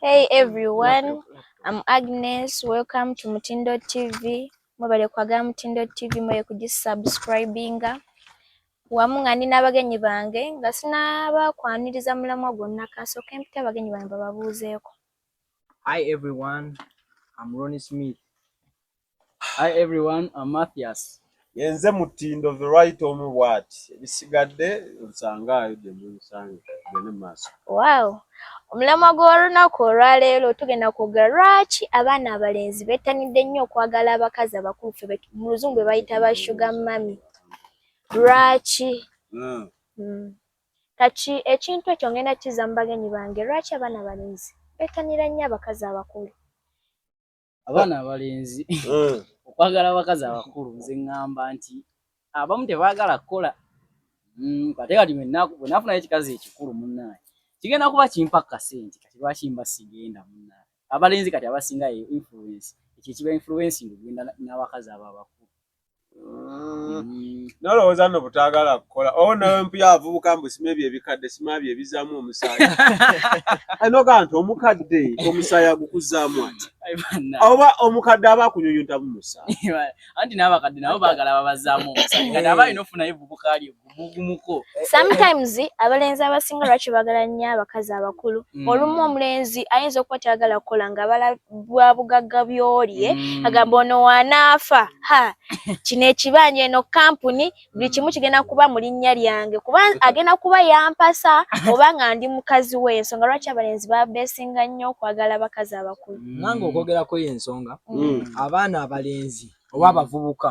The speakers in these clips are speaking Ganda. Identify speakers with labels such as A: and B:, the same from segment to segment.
A: Hey everyone, I'm Agnes. Welcome to Mutindo TV. Mwebale kwagala Mutindo TV, mwebale kugisubscribinga. Wamu nga ndi n'abagenyi bange nga sinaba kwaniriza mulamwa gwonna kasooka empita abagenyi bange bababuuzeeko. Hi
B: everyone, I'm Ronnie Smith. Hi everyone, I'm Matthias. Yenze mutindo
C: the right omu bwati ebisigadde nsangaayo gye munsanga gende maaso. Wow.
A: Omulamwa gw'olunaku olwaleero tugenda kwogera lwaki abaana abalenzi bettanidde nnyo okwagala abakazi abakulu fe mu luzungu be bayita ba shuga mami. Lwaki? Hmm. Hmm. Kati ekintu ekyo ngenda kizza mu bagenyi bange lwaki abaana abalenzi bettanira nnyo abakazi abakulu.
B: abaana abalenzi hmm. okwagala abakazi abakulu nze ŋŋamba nti abamu tebaagala kukola hmm, ate kati bwenafunayo ekikazi ekikulu munnaye kigenda kuba kimpa kasente kati lwaki mba sigenda munnaye abalenzi kati abasinga ye influence ekyo ekiba influence ngogenda n'abakazi abo abakulu Mm.
C: nolowooza no butagala kukola owo nawe mpuya avubuka mbu sima ebyo ebikadde sima byo ebizamu omusaayi anoga nti omukadde omusaayi agukuzaamu ati oba omukadde aba akunyunyuntamu musaayi anti n'abakadde
B: nabo bagala babazaamu omusaayi kati aba alina ofunayo evubuka lye sometimes
A: abalenzi abasinga lwaki bagala nnyo abakazi abakulu mm. olumu omulenzi ayinza okuba tayagala kukola nga bala bwa bugagga byolye mm. agamba ono wanaafa ha kino ekibanja eno kampuni buli kimu kigenda kuba mu linnya lyange kuba agenda kuba yampasa oba nga ndi mukazi we ensonga lwaki abalenzi babesinga nnyo okwagala abakazi abakulu mm. nange okwogerako
D: yo ensonga abaana abalenzi oba abavubuka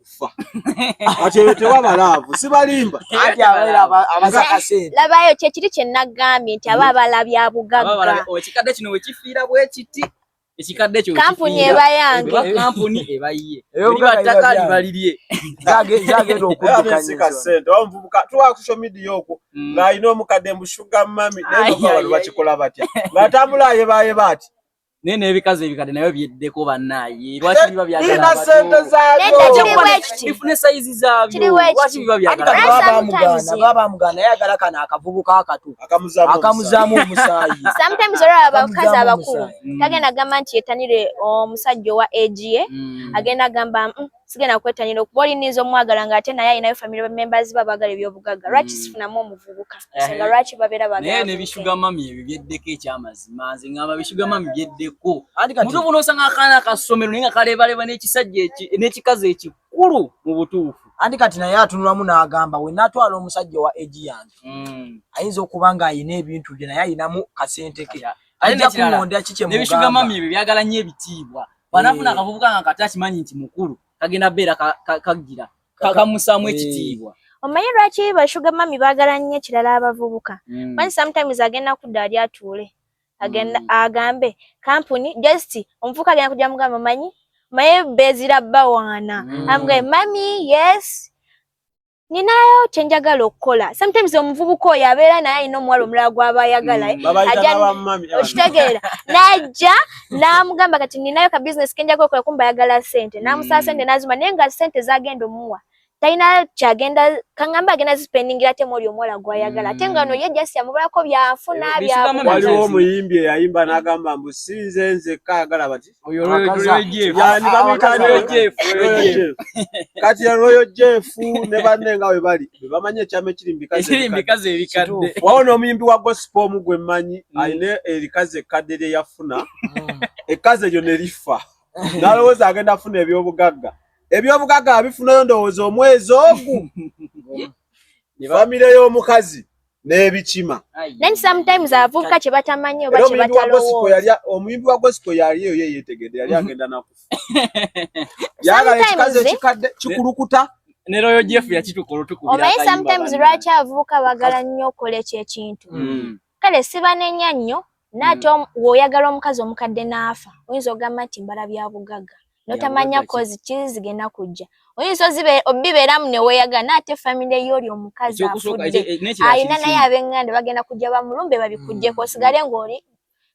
C: kufa kati eyo tewaba laavu sibalimba
D: labayo kyekiri
A: kyenagambye nti aba abalabye abugagga ekikadde kino wekifiira
B: bwekiti ekikadde kyo kampuni eba yange
A: kampuni eba
B: yiye ebiba ttaka liba lirye zagenda
D: okuddukanyasente
C: oba muvubuka tuwa ku social media okwo mm. ng'alina omukadde mbu shuga mami naye bakikola batya ng'atambula ayebaayeba ati naye n'ebikazi
B: ebikadde nabyo byeddeko bannaaye lwaki biba byagala sente
C: zaabyoifune sayizi
B: zaabyo lwaki biba byagalabamugaana babamugaana yagala
D: kano akavubuka akato akamuzaamu omusaayi sometimes olaba
A: abakazi abakulu mm. tagenda gamba nti yetanire omusajja owa agi ye mm. agenda gamba mm, sigenda kwettanira okuba olininza omwagala nga ate naye alinayo family members ba bagala ebyobugagga hmm. lwaki sifunamu omuvubuka eh. senga lwaki babeera baganaye nebishuga mami
B: ebyo byeddeko ekyamazima nze ngamba bishuga mami byeddeko mutu buno osanga akaana akassomero naye nga kalebaleba nekisajja nekikazi ekikulu mu butuufu anti kati naye atunulamu
D: n'agamba we natwala omusajja wa egi yange hmm. ayinza okuba nga ayina ebintu bye naye ayinamu kasente ke ajja kuŋonda kikye mugamba nebishuga mami ebyo byagala nnyo
B: ebitiibwa bwanafuna eh. akavubuka nga kati akimanyi nti mukulu kagenda beera kagira kakamusaamu eh. ekitiibwa omanyi lwaki
A: bashuga mami baagala nnyo ekirala abavubuka hmm. manyi sometimes agenda kudda ali atuule agenda hmm. agambe kampuni just omuvubuka agenda kujja mugamba manyi maye bezira bawaana hmm. amga mami yes ninayo kyenjagala okukola sometimes omuvubuka oyo abeera naye alina omuwala omulala gwaba ayagala mm, eh? okitegeera najja namugamba kati ninayo ka business kenjagala okukola kumba ayagala sente namusaba sente mm. nazima naye nga sente zagenda omuwa talina kyagenda kangamba agenda zipendingira ate mwoli omuwala gwayagala ate nga mm. noye just yamubalako byanfuna byawaliwo omuyimbi
C: eyayimba nagamba mbu sinze nzekka ayagala bati kati ya royo jeff ne banne nga we bali bebamanyi ekyama ekiri mubikazi
B: ebikadde wawo n'omuyimbi wa
C: gospel omu gwe mmanyi mm. alina erikazi ekkadde lye yafuna mm. ekkazi eryo ne lifa nalowooza agenda afuna ebyobugagga ebyobugagga abifunayo ndowooza omwezi ogu famire y'omukazi n'ebikima then sometimes
A: abavubuka kye batamanyi oba kye batalowooza omuyimbi wa gospel
C: yali eyo ye yeetegedde yali mm-hmm. agenda nakufa yagala ekikazi ekikadde kikulukuta ne royo jeff
B: yakituka olutukubira omanyi sometimes lwaki
A: abavubuka bagala nnyo okola ekyo ekintu mm. kale sibanenya nnyo naate mm. woyagala omukazi omukadde naafa oyinza ogamba nti mbala byabugagga notamanya kozi kiri zigenda kujja oyinza obibeeramu neweyagala naate famire yooli omukazi afudde eh, alina naye abenganda bagenda kujja bamulumbe babikujjeko mm. osigale ngaoli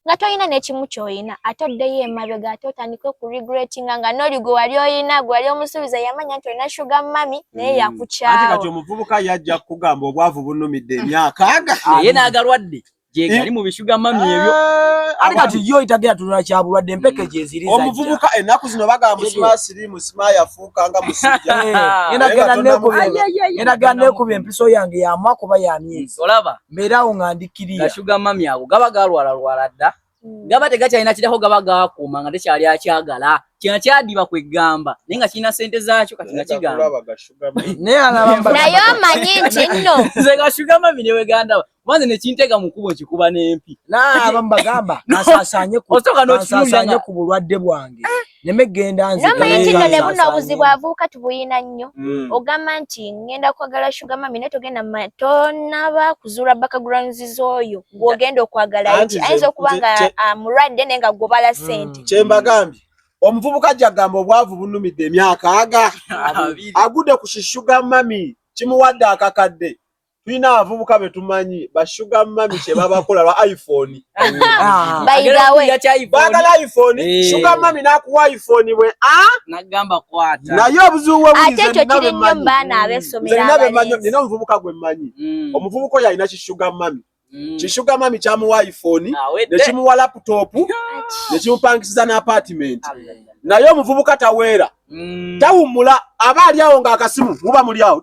A: nga tolina nekimu kyoyina ate oddeyo emabega ate otandike okuregretinga nga noli gwe wali oyina gwe wali omusuubiza yamanya nti olina shuga mami naye hmm. yakukyawo kati omuvubuka
C: yajja kukugamba obwavu bunumidde emyaka aga naye nagalwadde
B: gyegali mu bishuga mami ebyo eh, ali kati
D: yo itagera tunula kya bulwadde mpeke gyeziri za omuvubuka enaku zino
C: bagamba musima siri musima yafuuka nga musija eh, ena gana neku
D: ena gana neku bempiso yange ya mwako ba ya miezi olaba mbera unga
B: ndikiriya
D: kashuga mami ago gaba
B: galwala lwala da mm. gaba tegakyalina kirako gaba gakuuma nga tekyali akyagala kino kyadiba kwegamba naye nga kirina sente zaakyo kati nga kigambanaye
A: omanyi nti nno nze gashugamabi
B: newegandaba kubanze nekintega mukubo nkikuba nempi
D: nabamubagamba asasanye ku bulwadde bwange eh. neme genda nze naye nti none buno
A: obuzibu avuuka tubuyina nnyo mm. ogamba nti ngenda kwagala sugar mami naye togenda tonaba kuzuula backgrounds z'oyo gwogenda okwagala eki ayinza okuba nga ah, mulwadde naye nga gwobala mm. sente kyembagambye
C: omuvubuka jagamba obwavu bunumidde emyaka aga agude ku shishuga mami kimuwadde akakadde tulina abavubuka betumanyi bashuga mami kyebabakola lwa iphone ah. bagala iphone eh. shuga mami nakuwa iphone bwe ah?
B: naye
C: obuzibuwobuzinabemanyiina
A: omuvubuka gwe mmanyi
C: mm. omuvubuka oyo alina kishuga mami mm. kishuga mami kyamuwa iphone ah, nekimuwa laputopu nekimupangisiza n'apartiment naye omuvubuka taweera mm. tawummula aba ali awo ng'akasimu muba muli awo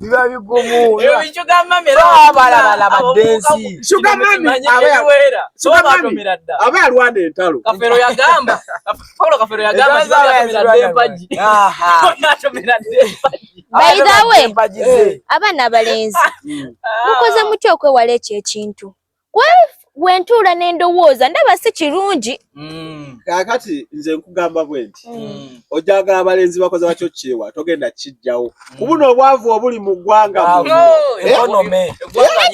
D: biba bigumu
B: aba
D: alwana
C: entalo kafero yagamba
B: paulo kafero yagamba
A: bayidawe abaana abalenzi mukoze mutya okwewala ekyo ekintu wentuula nendowooza ndaba si kirungi mm. kakati
C: nze nkugamba bwe nti mm. mm. ojagala abalenzi bakoze batyo kyewa togenda kijjawo kubuna obwavu obuli mu ggwanga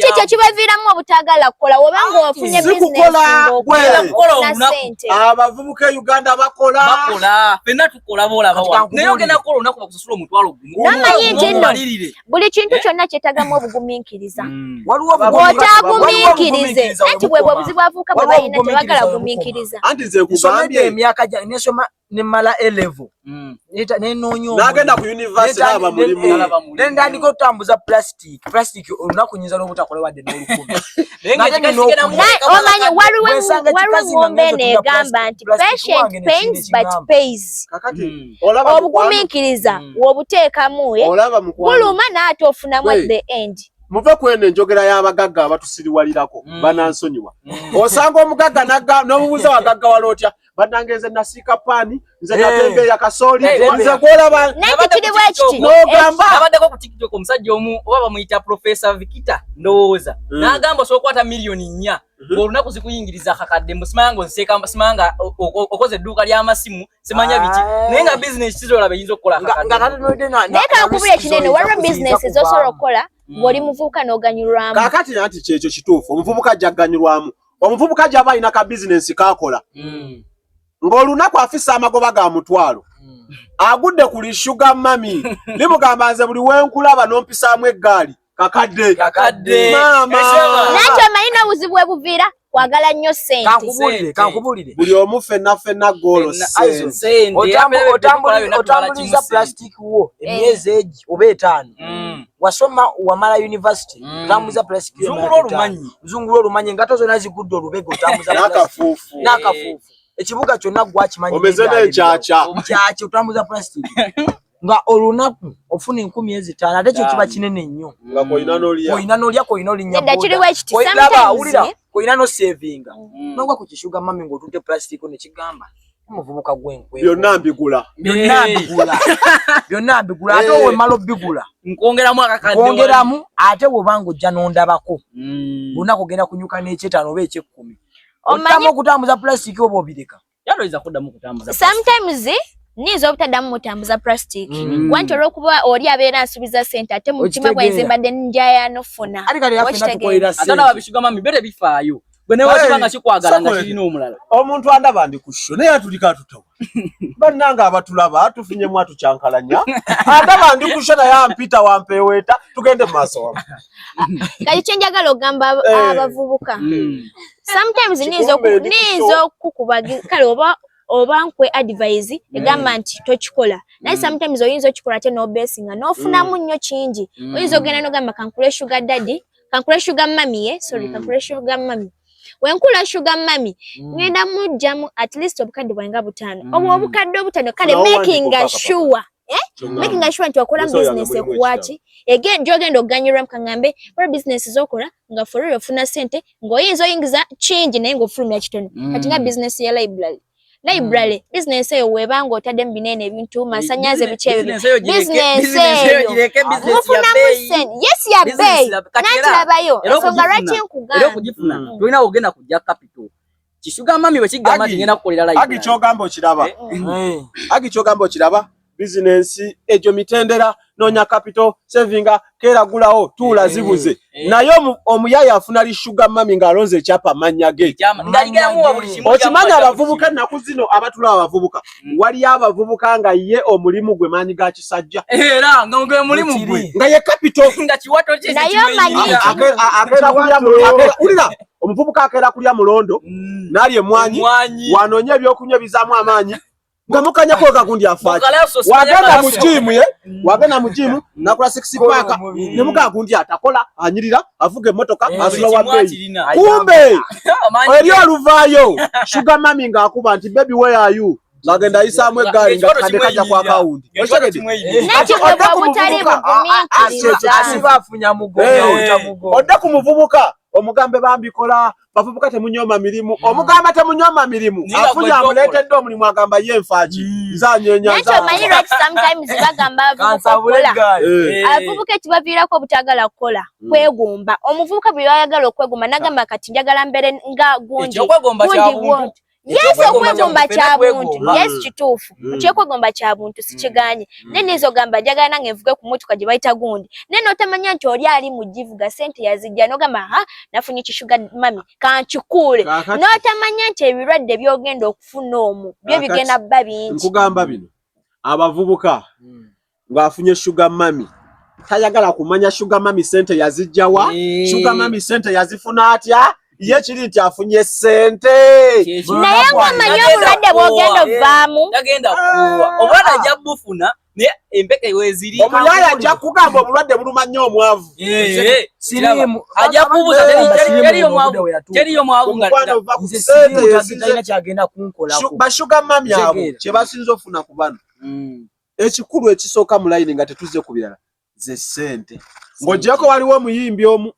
A: kyekyo kibaviiramu obutagala kukola woba nga wafunye sente abavubuka e uganda
C: bakola olaba
B: olaba wa naye ogenda kukola olunaku bakusasula omutwalo gumunamanye nti nno
A: buli kintu eh? kyonna kyetagamu obugumiikiriza hmm. otaagumiikirize anti bwebwe obuzibu avuuka bwe balina tebagala gumiikiriza anti nze kugambye
C: emyaka gyange nesoma
D: nemala elevo hmm. nenoonya nagenda ku
C: univesity naba mulimu nendandika
D: otutambuza plastic plastic plastic olunaku nyinza n'obutakola
A: wadde n'olukumi omanyi waliwo eŋŋombe eno egamba nti patient pains but pays hmm. obugumiikiriza hmm. wobuteekamu eh? buluma naate ofunamu at the end muve kweno enjogera
C: y'abagagga abatusiriwalirako hmm. banansonyiwa osanga omugagga n'omubuuza wagaggawala otya banange nze nasiika paani nze eh. natembe ya kasooli eh, eh, nze gwolaba
B: nogamba abaddeko ku tiktok omusajja omu oba bamuyita profesa vikita ndowooza hmm. nagamba osobola okwata miliyoni nnya hmm. olunaku zikuyingiriza kakadde mbu simanga onseka simanga okoze edduuka ly'amasimu simanya biki naye nga bizinesi kizolaba eyinza okukola kakaddenaye kankubula
A: ekinene waliwo bizinesi ezosobola okukola hmm. ng'oli muvubuka n'oganyulwamu kakati nanti kyekyo
C: kituufu omuvubuka ajja kuganyulwamu omuvubuka gyaba alina ka bizinensi kaakola mm. ng'olunaku afisa amagoba ga mutwalo mm. agudde ku lishuga mami limugamba nze buli wenkulaba n'ompisaamu eggaali kakadde kakadde maama nakyo manyi
A: n'obuzibu bwe buviira kwagala nnyo sente kankubulire buli omu
D: fenna
C: fenna goolo otambuliza
D: plastic wo emyezi egi oba etaano mm. wasoma wamala university mm. tambuza plus zungulu olumanyi zungulu olumanyi engato zona zigudde olubego tambuza nakafufu nakafufu
C: ekibuga
D: kyonna
C: gwakimanyi
D: omeze n'enkyaakya nkyaakya
C: otambuza
D: plastic nga olunaku ofuna enkumi ezitaano ate kyo kiba kinene nnyo
C: olina nolya kolina
D: olinyawulira
A: kolina
D: nosevinga mm. nogwa ku kishuga mami ngaotunte plastic nekigamba muvubuka gwenkwe byonna mbigula
C: byonna eh. mbigula byonna
D: mbigula ate eh. wemala obigula nkwongeramu akakaddekwongeramu ate wobanga ojja nondabako hmm. bonna kugenda kunyuka n'ekyetaano oba ekyekkumi otamu okutambuza plastic oba obireka yaloyinza kuddamu kutambuza
A: sometimes niyinza obutaddamu mutambuza plastic hmm. wanti olwokuba oli abeera nsuubiza sente ate mu mutima gwenze mbadde njayano funa ate kati yaffe natukolerasente ate nababishigama mibere bifaayo gwe naye
C: wakiba nga kikwagala nga kirina omulala omuntu andaba ndi ku sho naye atulika atutawa bannange abatulaba tufunyemu atukyankalanya andaba ndi ku sho naye ampita wampeeweeta tugende mu maaso wamu kati kye
A: njagala okugamba eh. abavubuka hmm. sometimes niyinza okukukuba kale oba oba nkwe advise hmm. egamba nti tokikola naye hmm. sometimes oyinza okikola ate nobesinga nofunamu nnyo kingi oyinza ogenda nogamba kankule sugar daddy kankula sugar mami ye eh? sorry mm. kankula sugar mami wenkula sugar mami mm. ngenda mujjamu at least obukadde bwange butaano mm. obwo obukadde obutaano kale making a sure eh? making a sure nti wakola business ekuwaki again gyogenda okuganyulwamu kaŋŋambe kola business zokola nga forero ofuna sente ng'oyinza oyingiza kingi naye ng'ofulumya kitono mm. kati nga business ya library library mm. business eyo webanga otadde mu binene ebintu masanyaze biki ebyo business eyo mufunamu sente yes ya bay nakirabayo ensonga lwaki nkugamba mm. tulina kugenda
B: kujja capital kisuga mami bwe kigamba nti ngenda kukolera library agi kyogamba okiraba eh? mm. eh.
C: agi kyogamba okiraba bizinensi egyo mitendera nonya kapito sevinga kera gulawo tuula eh, zibuze eh. naye omuyaya afuna lishuga mami ng'alonze ekyapa mannya ge okimanyi abavubuka ennaku zino abatula abavubuka hmm. waliyo abavubuka nga ye omulimu gwe maanyi ga kisajja
B: nga ye kapito
C: omuvubuka akeera kulya mulondo hmm. nalya emwanyi wanoonya ebyokunywa ebizaamu amaanyi nga mukanya ko ka kundi afaki wagenda mu gym ye mm. wagenda mu gym nakula six pack ne muka kundi atakola anyirira avuge motoka eh, asula wa bay kumbe eri aluvayo sugar mami nga akuba nti baby where are you ngagenda ayisaamu eggaali nga kade kajja kwa kawundi
D: odde ku muvubuka
C: omugambe bambikola bavubuka temunyoma mirimu mm. omugamba temunyoma mirimu afunye amuleetedde omulimu agamba ye nfaaki mm. nzanyenyaaabavubuka
A: eh. ekibaviirako obutagala kukola mm. kwegumba omuvubuka bwe bayagala okwegumba nagamba kati njagala mbere nga gundi yes okwegomba kya buntu yes mm. kituufu mm. kyekwegomba kya buntu mm. sikiganye naye nizo gamba njagala nange nvuge ku motoka gye bayita gundi naye notamanya nti oli ali mu givuga sente yazijja nogamba ha nafunye kishuga mami kankikuule notamanya nti ebirwadde byogenda okufuna omu byo bigenda bba bingi nkugamba bino
C: abavubuka ng'afunye sugar mami tayagala kumanya sugar mami sente yazijjawa eh. sugar mami sente yazifuna atya ye kiri nti afunye sente naye
A: ng'omanyi obulwadde bwogenda ovaamu tagenda kuwa
B: ah. obwana ajja bufuna naye empeke weziri omuyaya ajja kugamba
C: obulwadde buluma nnyo omwavu
D: ajja kubuuza
B: teriyo mwavu
D: bashuga mami abo
C: kye basinza ofuna ku bano hmm. ekikulu ekisooka mu layini nga tetuzze ku birala ze ssente ng'ogyeko waliwo omuyimbi omu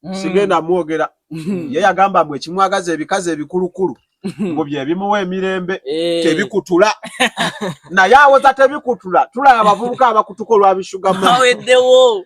C: mm. sigenda mwogera mm. ye yagamba mbu ekimwagaza ebikazi ebikulukulu mm. mbu byebimuwa emirembe eh. tebikutula naye awoza tebikutula tulaba abavubuka abakutuka olwabishugamu aweddewo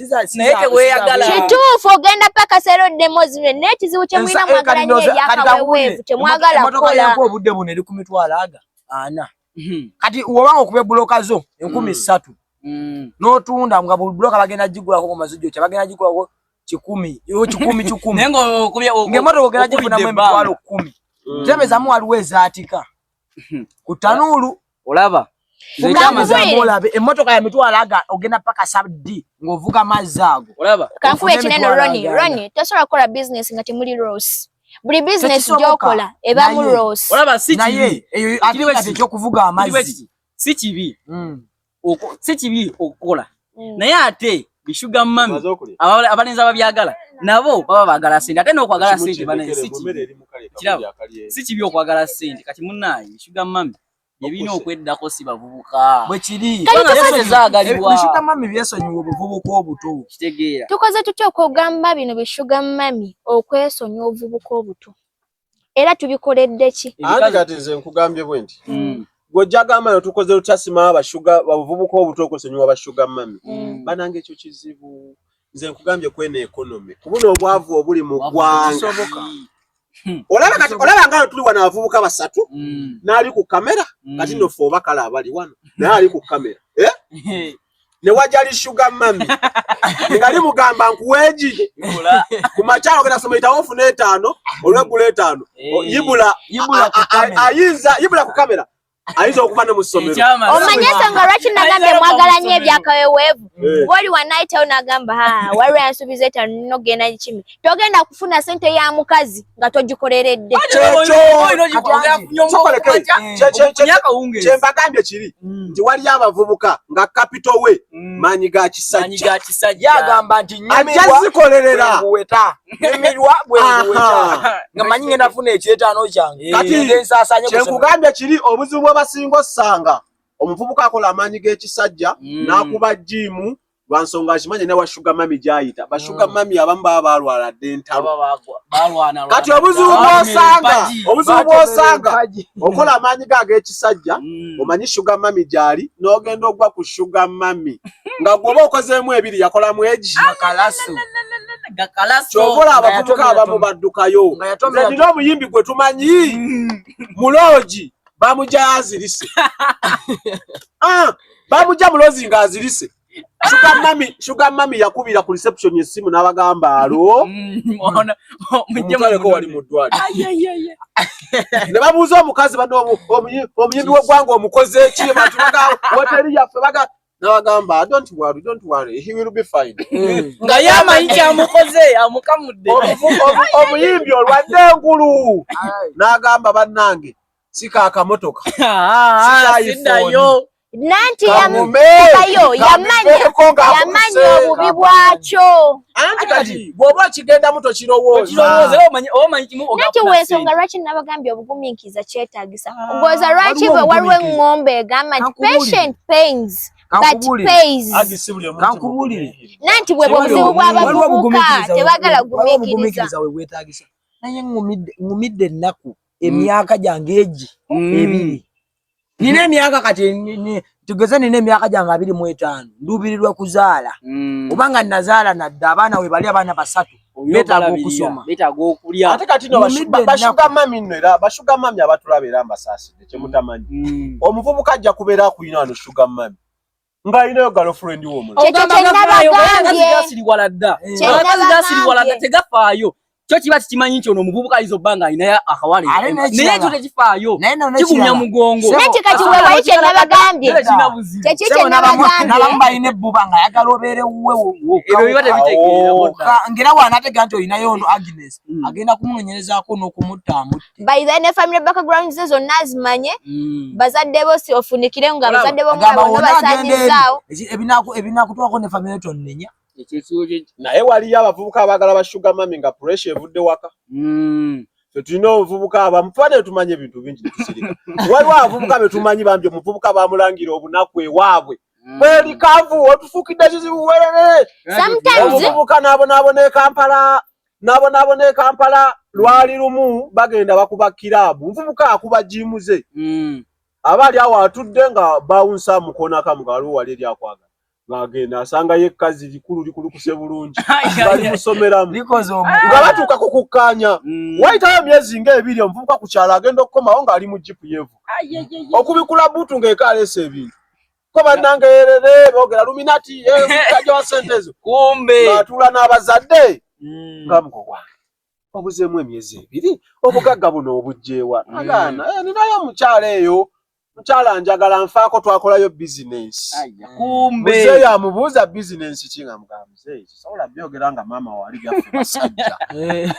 D: naye teweyagala
B: kituufu ogenda
A: paka sero demozime naye ekizibu kyemulina mwagala nyo ebyakaweweevu
D: temwagala
A: kukola
D: obudde
A: buno eri
D: ku mitwalo
A: aga ana
D: hmm. kati wobanga okuba ebuloka zo enkumi hmm. ssatu hmm. n'otunda nga buli buloka bagenda gigulako ku mazijo kye bagenda gigulako kikumi kikumi kikumi
B: ng'emotoka ogenda gifuna mu
D: emitwalo kkumi tebezamu waliwo ezaatika ku tanuulu olaba
B: olabe emmotoka
D: ya mitwalo aga ogenda paka sabdi ng'ovuga mazzi ago olaba kankuba ekinene
B: roni
A: roni tosobola kukola bizinesi nga temuli rose buli bizinesi gyokola ebamu rose olaba si kibi naye
B: eyo ati
D: ekyokuvuga amazzi si kibi
B: hmm. si kibi okukola mm. naye ate bishuga mami abalenzi ababyagala nabo baba bagala sente ate nokwagala sente kirabo si kibi okwagala sente kati munaye bishuga mami ebina okweddako si bavubuka
D: bwekiriebishuga
B: mami byesonyiwa
D: obuvubuka obuto kitegeera tukoze
B: tutya okwogamba
A: bino bishuga mami okwesonyiwa obuvubuka obuto era tubikoledde ki anti kati nze nkugambye
C: bwe nti mm. gwojjagamba no tukoze lutasima abashuga babuvubuka obuto okusonyiwa bashuga mami mm. banange ekyo kizibu nze nkugambye kwena ekonomi kubuno obwavu obuli mu ggwanga Hmm. olaba kati olaba nga tuli wano abavubuka basatu hmm. n'ali ku kamera hmm. kati nno ffe obakala abali wano naye ali ku kamera eh? ne wajali sugar mami nga limugamba nkuweji kumakyalo genda soma itawo ofuna etaano olwegula etaano eh. yibula ayinza yibula ku kamera ayinza okuba ne mu ssomero omanyi ensonga lwaki
A: nagambye mwagala nnyo ebyakaweweevu eh. bwoli wanayitawo nagamba waliwo yansuubiza etaano nogenda kikimi togenda kufuna sente ya mukazi nga togikoleredde
C: kyembagambye kiri mm. nti waliyo abavubuka nga kapito we mm. maanyi ga
D: kisajjaajazikolerera kyekugambye
C: kiri obuzibu bwebasinga ossanga omuvubuka akola amaanyi g'ekisajja mm. n'akuba jiimu lwansonga akimanyi ne washuga mami gyayita bashuga hmm. mami abamu baba balwala dde entalokati obuzibu bwosanga obuzibu bwosanga okola amaanyi ge ag'ekisajja hmm. omanyi shuga mami gyali n'ogenda ogwa ku shuga mami nga gwoba okozeemu ebiri yakolamu egi kyobola abavubuka abamu baddukayo nina omuyimbi gwe tumanyi hmm. muloogi bamujayazirise ah! bamujja mulozi nga azirise Sugar mami, sugar mami yakubira ku reception yesimu nabagamba alo. Muona mjema ko wali mudwali. Ayayaya. Ne babuza omukazi bano omuyimbi wegwango omukoze ki abantu baga hotel yaffe baga nabagamba don't worry don't worry he will be fine. Mm. Nga yama
B: inja amukoze amukamudde. Omuyimbi
C: olwadde ngulu. Nagamba banange. si ka kamotoka ah, siddayo
B: nanti
A: yamubayo yamanyi yamanyi obubi bwakyo anti kati
C: bwoba okigendamu tokirowoozanati
A: wensonga lwaki nabagambye obugumiikiriza kyetagisa ah, ngoza lwaki bwe waliwo eŋŋombe egamba nti patient pains nanti bwe bwobuzibu bwabavubuka tebagala gumiikiriza
D: naye ŋumidde ennaku emyaka gyange egi mm. ebiri nina emyaka kati tugeze nina emyaka gyange abiri mu etaano nduubirirwa kuzaala mm. oba nga nazaala nadda abaana we bali abaana basatu betaaga okusoma betaaga okulya ate
B: kati no
C: bashuga mami no era bashuga mami abatulaba era mbasaasidde kyemutamanyi mm. omuvubuka ajja kubeera akulina wano shuga mami nga alinayo girlfriend wo omulala ogamba gafaayo bakazi
B: gasiriwala dda abakazi gasiriwala dda tegafaayo kyo kiba kikimanyi nti ono omuvubuka ayinza obba nga alinayo akawale naye ekyo tekifaayo kigumya mugongo naye kika kiwewayo
A: kyenabagambye kyekyo kyenabagambynabamu balina ebbuba
D: nga ayagala obeere wuwe
B: wokaera wanategeera
D: nti olinayo ono agnes mm. agenda kumunonyerezaako n'okumutta amutta by the ne family
A: background ze zonna azimanye mm. bazadde bo si ofunikire nga bazadde bo mwabo no basanyizaawo ebinaku ebinaku
D: twako ne family to nenya naye
C: waliyo abavubuka abagala ba sugar mami nga pressure evudde waka mm. fe tulina obuvubuka abamu tuba ne tumanyi ebintu bingi netusirika waliwo abavubuka be tumanyi bambi omuvubuka bamulangira obunaku ewaabwe mm. bweli kavu otufukidde kizibu werere omuvubuka naabonaabona ekampala nabonaabona e kampala lwali lumu bagenda bakuba kiraabu nvubuka akuba jiimu ze mm. aba ali awo atudde nga bawunsa mukonakamu nga waliwo wali eri akwagala ng'agenda asanga ye kkazi likulu likulukuse bulungi bali musomeramu nga
D: batuuka ku
C: kukkaanya mm. wayitawo emyezi ng'ebiri omuvubuka ku kyalo agenda okukomawo ng'ali mu jipu yeevu okubikula buutu ng'eko aleesa ebintu ko banange erere bogera luminati ekaja eh, wa sente ezo kumbe atula
B: n'abazadde
C: mm. nga muko gwange obuzeemu emyezi ebiri obugagga buno obujjeewa mm. agaana eh, ninayo omukyala eyo mukyala njagala nfaako twakolayo bizinensi muzeeyo
B: amubuuza
C: bizinensi ki nga mugamba sobola byogera nga maama wali gaffe basajja eh.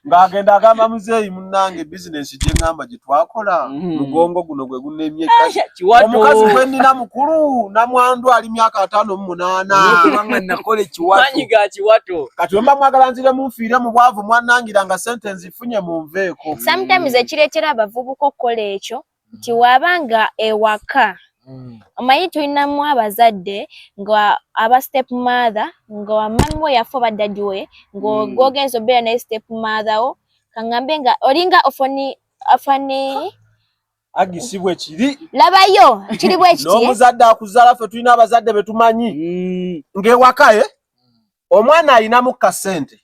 C: ng'agenda agamba muzeeyi munnange bizinensi gye ŋŋamba gye twakola mm-hmm. mugongo guno gwe gunemye ah, omukazi gwe nnina mukulu namwandu ali myaka ataano mu munaana
D: kati wemba mwagala
C: nzire munfiire mu bwavu mwannangira nga sente nzifunye mu nveeko sometimes ekireetera
A: abavubuka okukola ekyo nti waba nga ewaka mm. omanyi tulinamu abazadde nga aba step mother nga wamami wo yafa oba dadi we ngaogenza mm. obeera naye step mother wo kaŋambe nga olinga ofoni afani
C: agi si bwe kiri labayo kiri
A: bwe kiti n'omuzadde akuzaala
C: ffe tulina abazadde be tumanyi mm. ng'ewakaye omwana alinamu kasente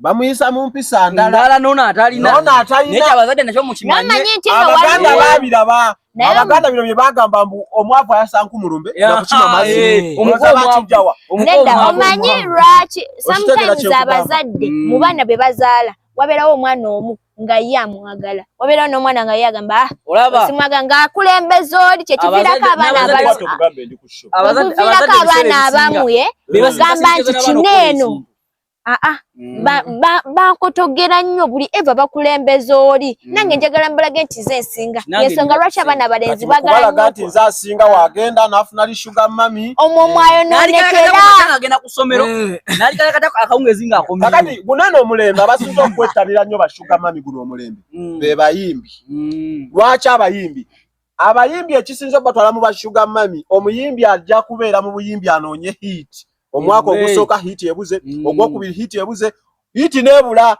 C: bamuyisa mu mpisa ndala nono
B: atalinanekyabagadde nakyo mukimanyeabaganda
C: babiraba abaganda bino byebagamba mbu omwavu ayasanku mulumbe nakukima maziomukijjawa
A: eh, omanyi lwaki sometimes abazadde mm. mu baana be bazaala wabeerawo omwana omu nga ye amwagala wabeerawo n'omwana nga ye agamba ah, simwaga nga akulembeza oli kyekiviirako abaana abamuye ogamba nti kino eno aa ah, ah. mm. bankotogera nnyo buli eva bakulembeza oli mm. nange njagala mbalage nti ze nsinga yensonga lwaki abaana balenzi bagala nti nze asinga
C: wagenda nafuna li sugar mami omwo eh.
A: mwayononekeraagenda kusomero
B: eh. akawungezi ngaakati gunano omulembe
C: abasinza okwettabira nnyo ba sugar mami guno omulembe mm. bebayimbi lwaki abayimbi Abayimbi ekisinze obatwala mu ba Sugar Mami, omuyimbi ajja kubeera mu buyimbi anoonye hit. Omwaka ogusooka hit ebuze, mm. ogwokubiri hit ebuze, hit nebula.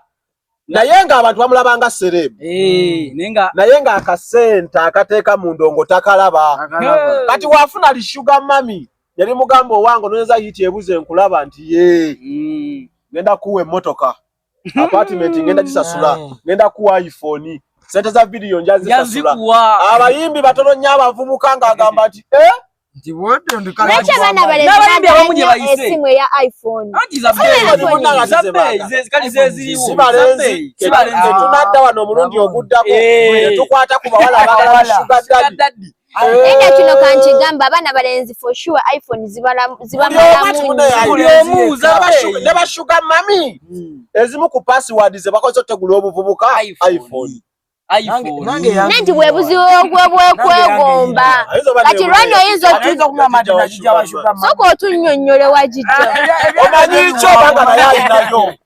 C: Naye nga abantu bamulaba nga celeb. Eh, mm. Naye nga akasente akateeka mu ndongo takalaba. Kati wafuna li Sugar Mami, yali mugamba owange ononyeza hit ebuze nkulaba nti ye. Mm. Nenda kuwa emmotoka. apartment ngenda kisasula mm. ngenda kuwa iPhone sente za video njazisasula abayimbi batono nnyo abavubuka ng'agamba nti
A: eh?
C: tunadda wano omulundi oguddako eh. tukwata ku bawala abagala sugar daddy Enda kino
A: kankigamba abaana balenzi for sure iPhone zibalamu zibamalamu
C: ne ba sugar mami hmm. ezimu ku password ze bakoze otegula obuvubuka iPhone
A: nanti bwebuziwo bwekwegomba kati lwani oyinza soka otunyonyole wagijja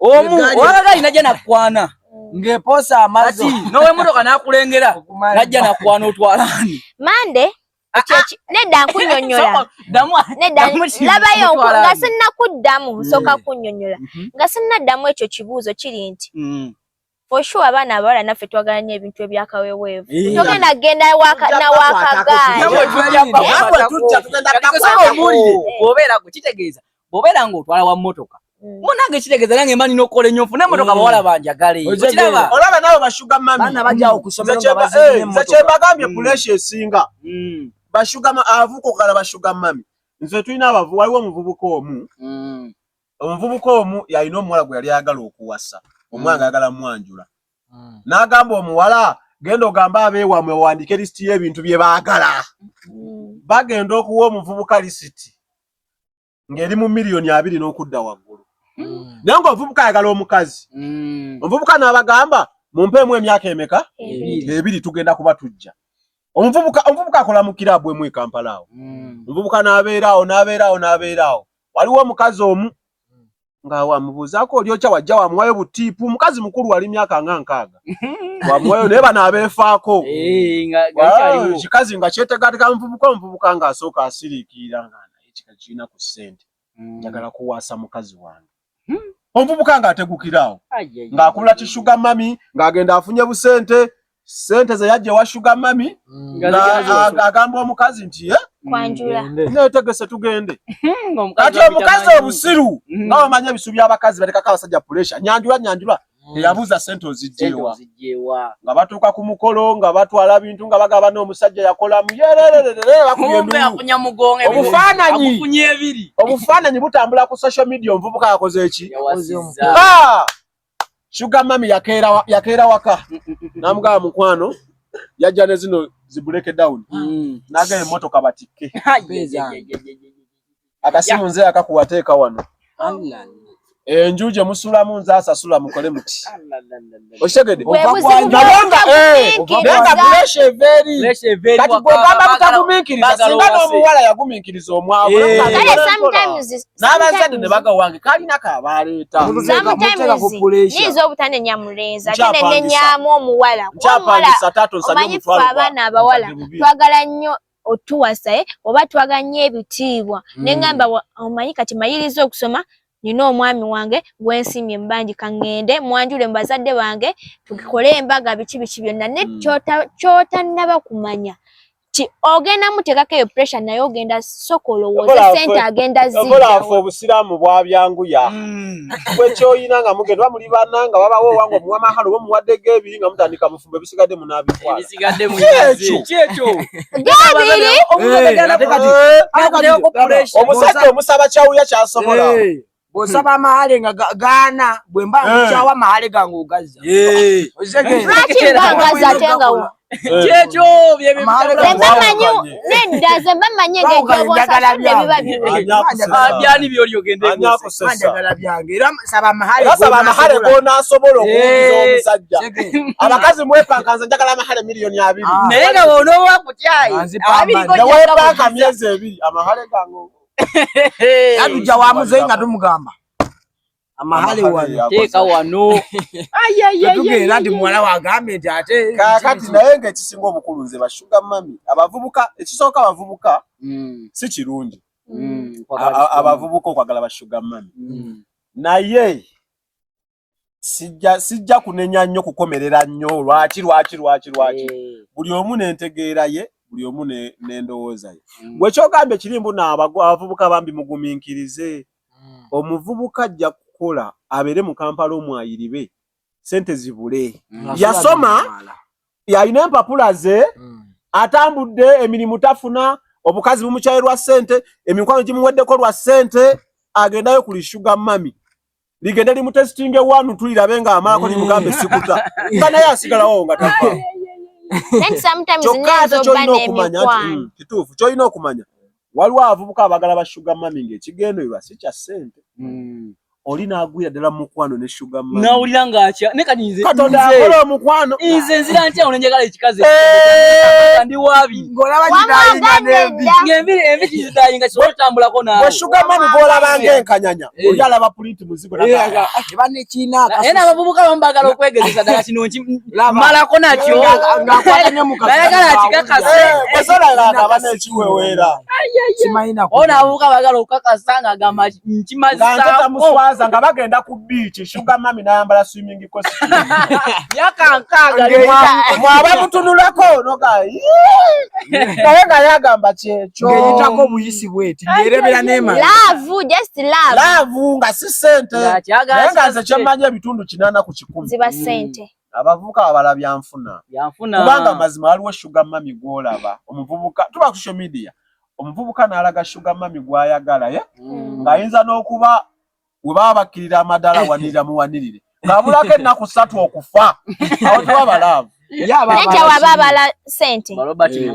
B: omu owabadde alina gye nakwana ng'eposa
D: amazi n'ow'emmotoka n'akulengera
B: najja nakwana otwala ani mande
A: ah, ah. nedda nkunyonyola nedda labayo nga sinnakuddamu nsooka mm. kunyonyola mm-hmm. nga sinnaddamu ekyo kibuuzo kiri nti mm. For sure abaana abawala naffe twagala nnyo ebintu ebyakaweweevu togenda genda nawakagaaliwobeera
B: gwe kitegeeza bwobeera nga otwala wa mmotoka mm. munange kitegeeza nange mani nokukola ennyo nfune emotoka mm. bawala banjagale olaba nawe
C: bashuga mamikyebagambye mm. kulesha esinga bashuga avuka okala bashuga mami nze tulina abavu waliwo omuvubuka omu Omuvubuka omu yalina omuwala gwe yali ayagala okuwasa, omuwala mm. ng'ayagala mwanjula. Mm. N'agamba omuwala, genda ogambe abeewamwe owandiike lisiti y'ebintu bye baagala. Mm. Bagenda okuwa omuvubuka lisiti ng'eri mu miliyoni abiri n'okudda waggulu. Naye ng'omuvubuka ayagala omukazi. Omuvubuka n'abagamba, mumpeemu emyaka emeka? Ebiri tugenda kuba tujja. Omuvubuka akola mu kiraabu emu e Kampala awo. Omuvubuka n'abeera awo, n'abeera awo, n'abeera awo. waliwo omukazi omu nga wamubuuzaako olyokya wajja wamuwayo butiipu mukazi mukulu wali myaka nga nkaaga wamuwayo naye bano abeefaako eh, ah, kikazi nga kyetegateka nvubuka omuvubuka nga asooka asiriikiira nga naye kika kirina ku ssente hmm. njagala kuwaasa mukazi wange hmm. omuvubuka nga ategukiraawo ng'akula kishuga mami ng'agenda afunye busente sente ze yajja ewa shuga mami mm. agamba omukazi nti eh?
A: netegese
C: tugende hmm, kati omukazi obusiru hmm. nga wamanya ebisu byabakazi batekako abasajja puresha nyanjula nyanjula hmm. eyabuuza sente ozijjewa nga batuuka ku mukolo nga batwala bintu nga bagaba n'omusajja yakolamu yerererereobufaananyi butambula ku social media omuvubuka yakoze eki Sugar mami yakeera yakeera waka mm, mm, mm, namugaba mukwano yajja ne zino zibuleke down mm. naga emotoka batikke akasimu nze akakuwa teeka wano enju gye musulamu nze asasula mukole muti okitegede nayenga puresha everi kati gwegamba butaguminkiriza singa n'omuwala yaguminkiriza omwavu eh. n'abazadde ne bagawange kalina kabaleeta
A: niiza obutanenya mulenzi ate nenenyamu omuwala omanyi fe abaana abawala twagala nnyo otuwasa eh? oba twagala nnyo ebitiibwa hmm. nengamba omanyi kati mayiriza okusoma nina omwami wange gwensimye mubangi kaŋŋende mwanjule mu bazadde bange tukikole embaga biki biki byonna ne hmm. kyotanaba kumanya ti ogenda mutekako eyo pressure naye ogenda soka olowooze sente agenda zikolanfe obusiraamu
C: bwabyanguya mm. gwe kyoyina nga mugenda oba muli bana nga wabawo owange omuwa mahalo oba omuwaddeko ebiri nga mutandika bufumbo ebisigadde munabitwalaomusajja omusaba kyawuya kyasobola bwosaba
D: amahale nga gaana bwe mba nkukyawa amahale gange ogazza
B: kyekyo byebamanyi nedda ze bamanyi ngekyobosasudde biba byani byoli ogendeanjagala
D: byange era saba amahale
C: gonasobola okuwuliza omusajja abakazi mwepankanza njagala amahale miliyoni abiri naye nga wonowa
B: kutyayi abiri gowepanka
C: myezi ebiri amahale gange
D: yatujja wa muzeeyi nga tumugamba amahale wano teeka wano tugenda nti muwala wagambye nti ate kakati naye nga
C: ekisinga obukulu nze bashuga mami abavubuka ekisooka abavubuka mm. si kirungi mm, abavubuka okwagala bashuga mami mm. naye sijja sijja kunenya nnyo kukomerera nnyo lwaki lwaki lwaki lwaki eh. buli omu nentegeera ye buli omu nendowooza ye mm. gwe kyogambye kiri mbu naabavubuka bambi muguminkirize mm. omuvubuka ajja kukola abeere mu kampala omwayiribe sente zibule mm. yasoma yalina empapula ze atambudde emirimu tafuna obukazi bumukyaye lwa sente emikwano gimuweddeko lwa sente agendayo kuli shuga mami ligende limutesitinge wanu tulirabe nga amaako limugambe sikuta nga naye asigalawo nga tafa kyokka ate kyolina okumanya mm, kituufu kyolina okumanya waliwo abavubuka abagala ba shuga mami ngaekigendererwa si kya ssente mm. oli nagwira ddala mukwano ne shuga mami nawulira ngaakya ne
B: kati nze katonda akola omukwano
C: nze nzira ntya ono
B: njagala ekikazi eh! ndi wabi ng'olaba kitayinga
D: n'embi ng'embi kitayinga
B: kisobola otambulako naawe shuga mami gw'olabanga
C: enkanyanya Eh. Oli alaba pulinti muzigo eh, naga. Eba ne
D: kina akasusu. Ena abavubuka
B: bambagala okwegezesa dala kino nki mala kona kyo. Ngakwata ne mukazi. Dala kala kikakase. Basala eh, la na
C: bana kiwewera. Simaina
B: ko. Ona abavubuka bagala okakasanga gamba nki mazisa. Ngata muswaza ngabagenda
C: ku beach. Sugar mami nayambala swimming
B: mwaba
C: mutunulako naye nga yagamba kyekyeyitako obuyisi
D: bweti yerebera nemalaavu
A: nga si
C: sente naye nga nze kyemmanyi ebitundu kinana ku kikumi ziba sente mm.
A: abavubuka babala
C: byanfuna kubanga mazima waliwo shuga mami gwolaba omuvubuka tuba ku social media omuvubuka nalaga shuga mami gwayagala ye eh? mm. ng'ayinza n'okuba we baba bakkirira amadala awanirira muwanirire ng'abulako ennaku ssatu okufa awo tewaba laavu nekyawaba
A: abala sente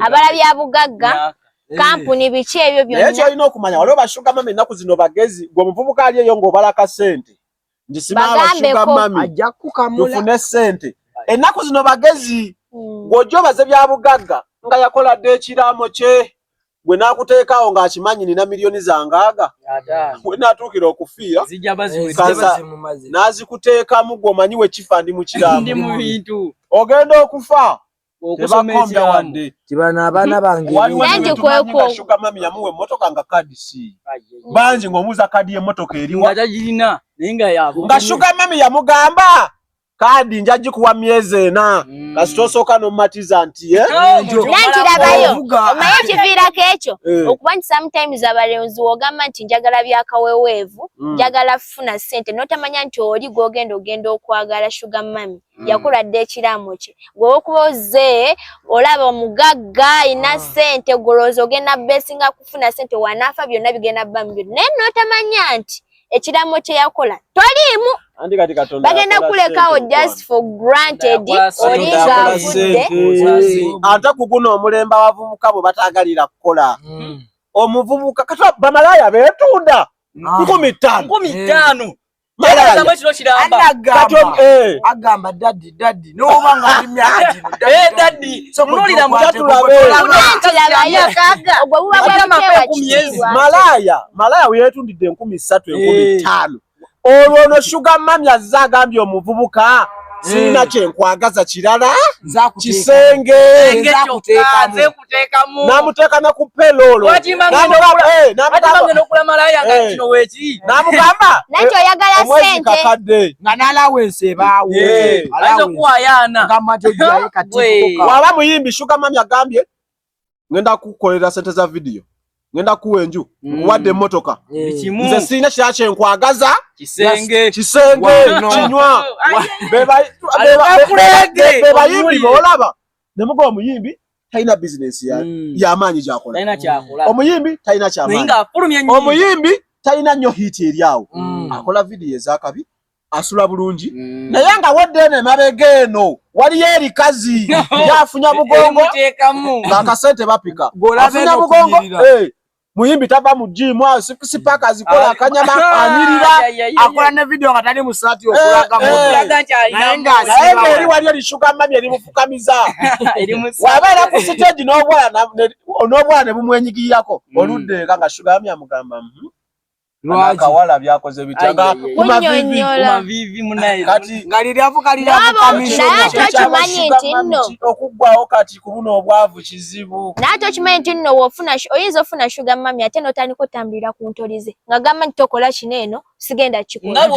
A: abala bya bugagga eh. kampuni biki ebyo byonnaye kyolina okumanya waliwo
C: bashuga mami ennaku zino bagezi gwe omuvubuka ali eyo ng'obalaka sente ndisima abashuga mami tufune sente ennaku zino bagezi hmm. ng'ojja obaze bya bugagga nga yakoladde ekiraamo kye gwe nakuteekaawo ng'akimanyi nina miliyoni zangaaga we natuukira okufiira n'azikuteekamu gwe omanyi we kifa ndi mu kiramu ogenda okufa tebakombya wadde kibano abaana
D: bangeshugamami
C: yamuwa emmotoka nga kadisi bangi ng'omuuza kadi y'emmotoka eriwa nga shugamami yamugamba kaadi nja gikuwa myezi ena mm. kasita osooka nomumatiza nti eh? nkirabayo
A: omaye ekiviirako ekyo eh. okuba nti sometimes abalonzi wogamba nti njagala byakaweweevu mm. njagala funa sente notamanya nti oli gwogenda ogenda okwagala sugar mami mm. yakula dda ekiraamo kye gwewokuba oze olaba omugagga ina ah. sente gwolowooza ogenda besinga kufuna sente wanaafa byonna bigenda bamu byonna naye notamanya nti ekiramo kye yakola toliimu bagenda kulekawo just for granted oli ng'avudde ate
C: ku guno omulembe abavubuka bwe bataagalira kukola hmm. omuvubuka kata bamalaaya beetunda ah. nkumi ttaano nkumi ttaano
D: eh. agamba dadi daddy no oba nga ndi myaka gino eh daddy so mulira mutatulabe yalayo kaga ogwo buba bwa
C: mapema ku myezi malaya malaya weyetundidde enkumi ssatu enkumi eh. ttaano olwo ono shuga mami azze agambye omuvubuka eh. sirina kyenkwagaza kirala kisenge n'amuteeka ne ku peloolo n'amugamba omwezi kakadde nga n'alaawa
A: ensi
D: ebaawo
C: waba muyimbi shuga mami agambye ngenda kukukolera sente za vidiyo ngenda kuwa enju mm. wadde emmotoka mm. nze sirina kira kyenkwagaza kisenge kinywa bebayimbi boolaba nemuga omuyimbi talina business ya mm. yamaanyi gyakola mm. omuyimbi talina kyamaanyi omuyimbi talina nnyo hiiti eri awo mm. akola vidiyo ezakabi asula bulungi mm. naye nga wadde eno emabega eno waliyo erikazi yafunya mugongo ngakasente bapika afunya mugongo eh, muyimbi tava mu gym awo six pack azikola akanyama anyirira akola ne video
D: nga tali musati okulaga mu naye nga
C: asiba eri wali eri sugar mami eri mufukamiza waba era ku stage n'obwana n'obwana ne bumwenyigiyako oludde nga sugar mami amugamba mhm. Akawala byakoze bitya nga kuma vivi kuma
B: vivi munaye kati ngalira avuka
C: lira avuka
D: misho naye tukimanyi nti
C: nno okuggwawo kati ku buno obwavu kizibu naye tukimanyi nti nno
A: wofuna oyinza ofuna shuga mami ate notandika otambulira ku ntolize nga gamba nti tokola kino eno sigenda kikola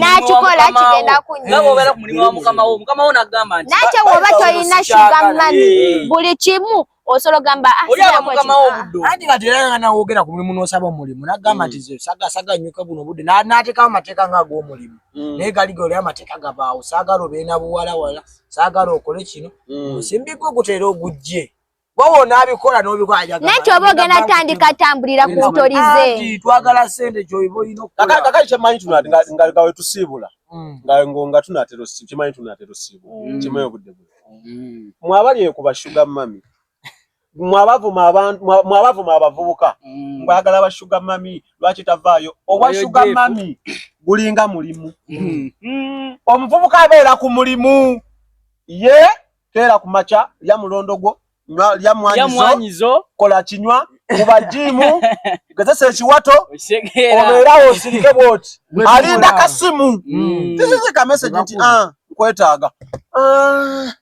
A: nakikola kigenda
B: kunyonakyo woba tolina
A: shuga mami buli kimu osolo gamba ah, oli aba mukama wo buddo
D: andi nga tera nga nawo ogera ku mulimu nosaba omulimu nagamba mm. tize saga saga nyuka buno budde na nateka amateka nga go omulimu mm. naye gali gole amateka gabaawo saga robe na buwala wala saga rokole kino mm. simbi ko gutera ogujje wowo nabikola nobikola ajaga naye kyoba ogenda
A: tandika tambulira ku ntorize twagala sente
D: kyoibo ino kakaka kyemanyi tunati
C: nga nga wetusiibula mm. nga nga tunatero kimanyi tunatero siibula mm. kimanyi obudde buno mm. mwabali eyo kuba sugar mami mwabavuma abantu mwabavuma abavubuka mm. mbagala ba sugar mami lwaki tavaayo owa sugar mami gulinga mulimu mm. mm. omuvubuka abeera ku mulimu ye keera ku maca lya mulondo gwo lya mwanyizo kola kinywa kuba jimu gezesa ekiwato obeerawo osirike bwoti alinda kasimu mm. tisizika meseji nti ah, nkwetaaga ah.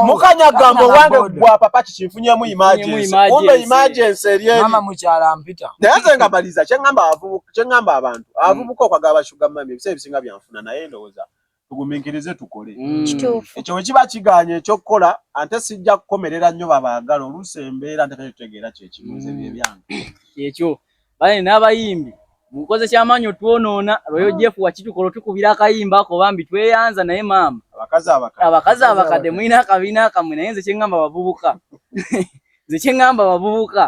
C: mukanya gamba owange gwa papa kikinfunyemu imagensikumbe imagensi eryenayenze
D: nga maliza
C: kyeŋamba abantu avubuka okwagala bashugamami ebiseera ebisinga byanfuna naye ndowooza tugumiikirize tukole mm. kituufu ekyo bwe kiba kigaanye ekyokukola ante sijja kukomerera nnyo babaagala oluusi embeera ntekakyo tutegeera kyekimu nze bye mm. byange kyekyo
B: bale n'abayimbi mukoze kyamaanyi otwonoona royo jeff wakitukola otukubira akayimba ako bambi tweyanza naye maama abakazi abakadde mulina akabiina akamwe naye nze kyeŋŋamba bavubuka nze kyeŋŋamba bavubuka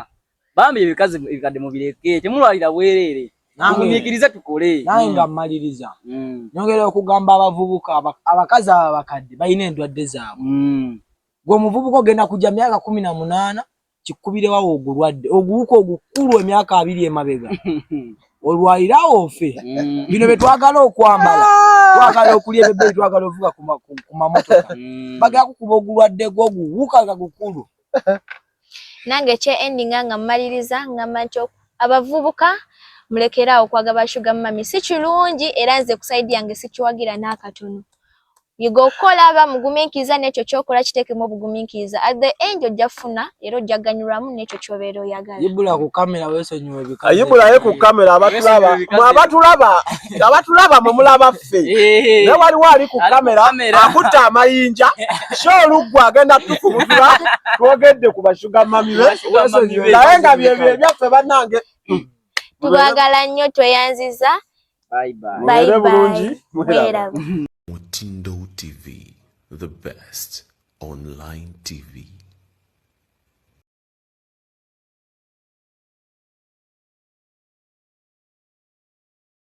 B: Bambi ebikazi ebikadde mubireke temulwalira bwereere mumikirize tukole naye nga mmaliriza
D: mm. nyongera okugamba abavubuka abakazi abo abakadde balina endwadde zaabwe mm. gwe omuvubuka ogenda kujja myaka kumi na munaana kikubirewawo ogulwadde oguwuka ogukulu emyaka abiri emabega olwalirawo ofe mm. bino byetwagala okwambala twagala okulya ebebei twagala ovuga ku mamotoka bagala kukuba ogulwadde gwoguwuka nga gukulu nange
A: ekye endinga nga mmaliriza ngamba nti abavubuka mulekere awo okwaga ba shuga mumami si kirungi era nze kusaidi yange sikiwagira n'akatono yiga okukola aba mugumiikiriza n'ekyo kyokola kiteekemu obugumiikiriza at the end ojja kufuna era ojja kuganyulwamu n'ekyo kyobeera oyagala yibula ku kamera
D: wesonyiwe bika yibulaye ku kamera
C: abatulaba mwe abatulaba abatulaba mwe mulaba ffe eh. naye waliwo ali ku kamera akutte amayinja sho oluggu agenda tukubutula twogedde ku bashuga mami be naye nga byebyo ebyaffe bannange tubagala
A: nnyo tweyanziza
B: mubeere bulungi mweraba
E: mutindo tv
A: the
E: best online tv